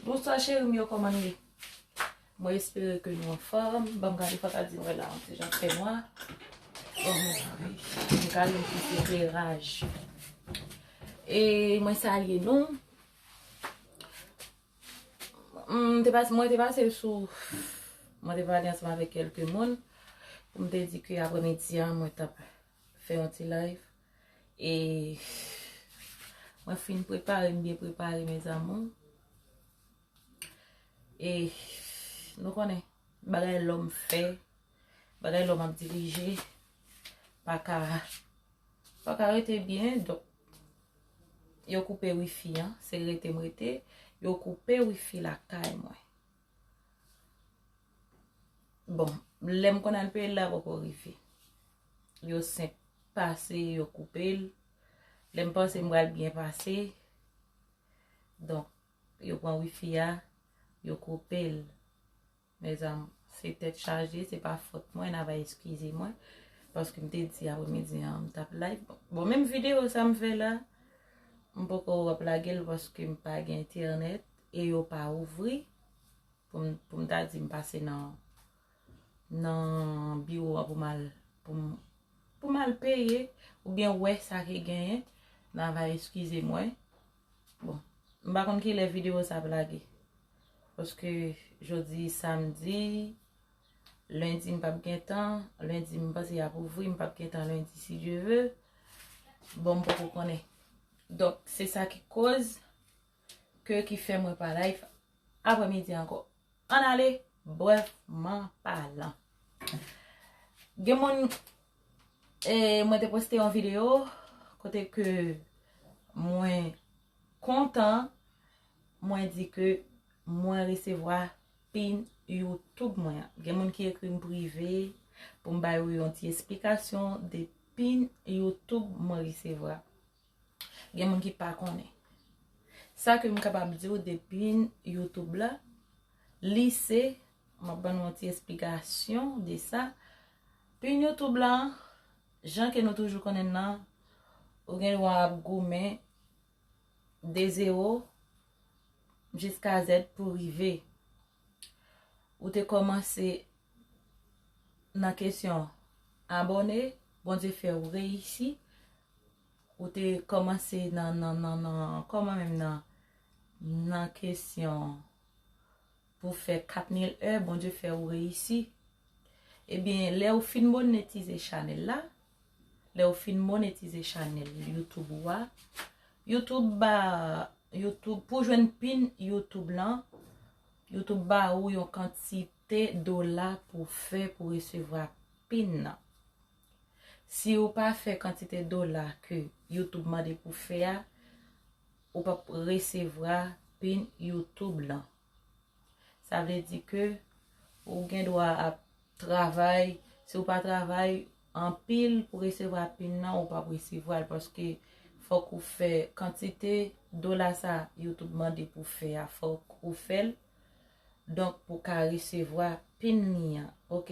Bonswa cheri m yo kòman nou ye? Mwen espere ke nou anfòm. Banm gade fwa ta di mwen la an ti jan fè nwa. Bon mwen sa vè. Mwen ka lè mwen fè kè raj. E mwen sa lè nou. Mwen te pase mwen te pase l sou. Mwen te pale ansanm avèk kèlke moun. Mwen te di ki aprè midi an mwen tap. Fè yon ti live. E mwen fin prepare, m byen prepare mes amour. E nou konnen bagay lòm fè, bagay lòm ap dirije pa ka pa ka rete byen. Donk yo koupe wifi an, se rete m rete, yo koupe wifi lakay mwen. Bon, lè m konn al peye l la poko rive. Yo senp pase, yo koupe l. Lè m panse m pral byen pase, donk yo pran wifi a, yo koupe l. Mezanm, se tèt chaje, se pa fòt mwen, n ava eskize mwen. Paske m te di apre midi an m t ap live. Bon, menm videyo sa m fè la, m poko ap lage l paske m pa gen entènèt. E yo pa ouvri, pou m ta di m pase nan nan biwo a pou m al pou m pou m al peye oubyen wè sa ki genyen, nan va eskize mwen. Bon, m pa konn ki lè videyo sa ap lage. Paske jodi samdi, lendi m p ap gen tan, lendi m panse y ap ouvri, m p ap gen tan lendi si Dye ve. Bon m poko konnen. Donk se sa ki koz. Ke ki fè mwen pa live aprè midi ankò. Ann ale brèfman palan. Gen moun e mwen te poste yon video kote ke mwen kontan mwen di ke mwen resevwa pin YouTube mwen an. Gen moun ki ekri m prive pou m ba yo yon ti esplikasyon de pin YouTube mwen resevwa. Gen moun ki pa konnen. Sa ke m kapab di ou depi YouTube la, li se, m ap ban nou yon ti esplikasyon de sa, pin YouTube la, jan ke nou toujou konnen l lan, ou gen dwa ap goumen de zero jiska zèd pou rive. Ou te komanse. nan kesyon abòne bondye fèw reyisi ou te kòmanse nan nan nan nan kòman menm nan nan kesyon pou fè 4000 è bondye fèw reyisi ebyen lèw fin monetize chanèl la lèw fin monetize chanèl youtube ou a youtube ba youtube pou jwenn pin youtube lan Yo tou ba ou yon kantite dola pou fè pou resevwa pin nan. Si ou pa fè kantite dola ke YouTube mande pou fè a, ou pap resevwa pin YouTube lan. Sa vle di ke ou gen dwa ap travay, si ou pa travay, Anpil pou resevwa pin nan ou pap resevwal paske fok ou fè kantite dola sa YouTube mande pou fè a fok ou fèl donk pou ka resevwa pin li an ok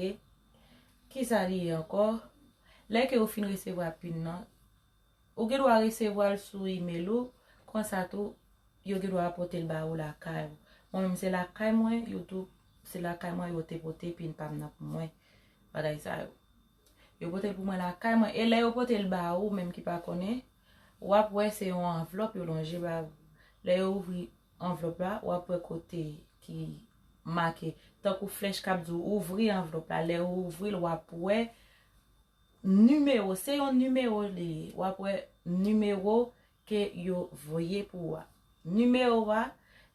kisa li ye ankò lè ke ou fin resevwa pin nan Ou gen dwa resevwa l sou imel ou, konsa tou yo gen dwa pote l ba ou lakay ou. Mwen menm se lakay mwen youtube, se lakay mwen yo te pote epi l pa vin nan pou mwen, bagay sa yo. Yo pote l pou mwen lakay mwen, e lè yo pote l ba ou menm ki pa konnen, w ap wè se yon anvlòp yo lonje ba ou. Lè yo ouvri anvlòp la, w ap wè kote ki make, tankou flèch k ap di w ouvri anvlòp la, lè ou ouvri l w ap wè Numéro se yon numéro li ye wap wè numéro ke yo voye pou ou a numéro a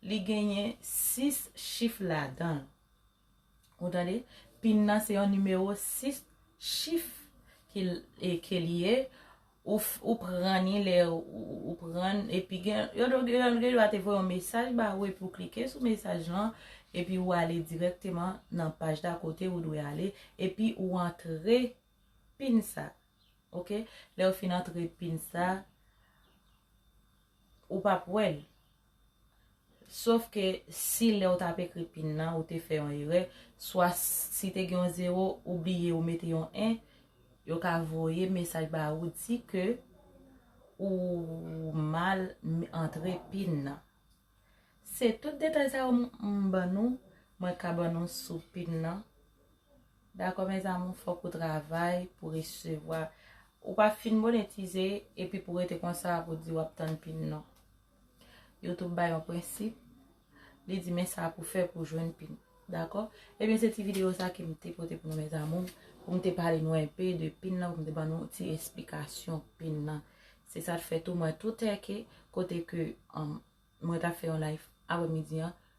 li genyen 6 chif ladanl ou tande pin nan se yon numéro 6 chif ke li ye Ou pran ni lè ou pran l. Epi gen yo gen dwa te voye yon mesaj ba ou epi ou klike sou mesaj lan epi ou ale dirèkteman nan paj la kote ou dwe ale epi ou antre pin sa. Ok. Lè ou fin antre pin sa, ou pap wè l. Sof ke si lè ou tap ekri pin nan ou te fè yon erè, swa si te gen yon zero ou bliye ou mete yon 1, yo ka voye mesaj ba ou di ke ou mal antre pin nan. Se tout detay sa yo m ban nou, mwen ka ban nou sou pin nan. Dakò mes amour, fòk ou travay pou resevwa. Ou pa fin monetize epi pou rete konsa pou di wap tann pin non. Youtube ba yon prensip, li di men sa pou fè pou jwenn pin. Dakò? Ebyen se ti video sa ke m te pote pou nou mes amours, pou m te pale nou enpe de pin nan, pou m te ban nou ti esplikasyon pin nan. Se sa t fè tou mwen tou tèke kote ke mwen ta fè yon live aprè midi an,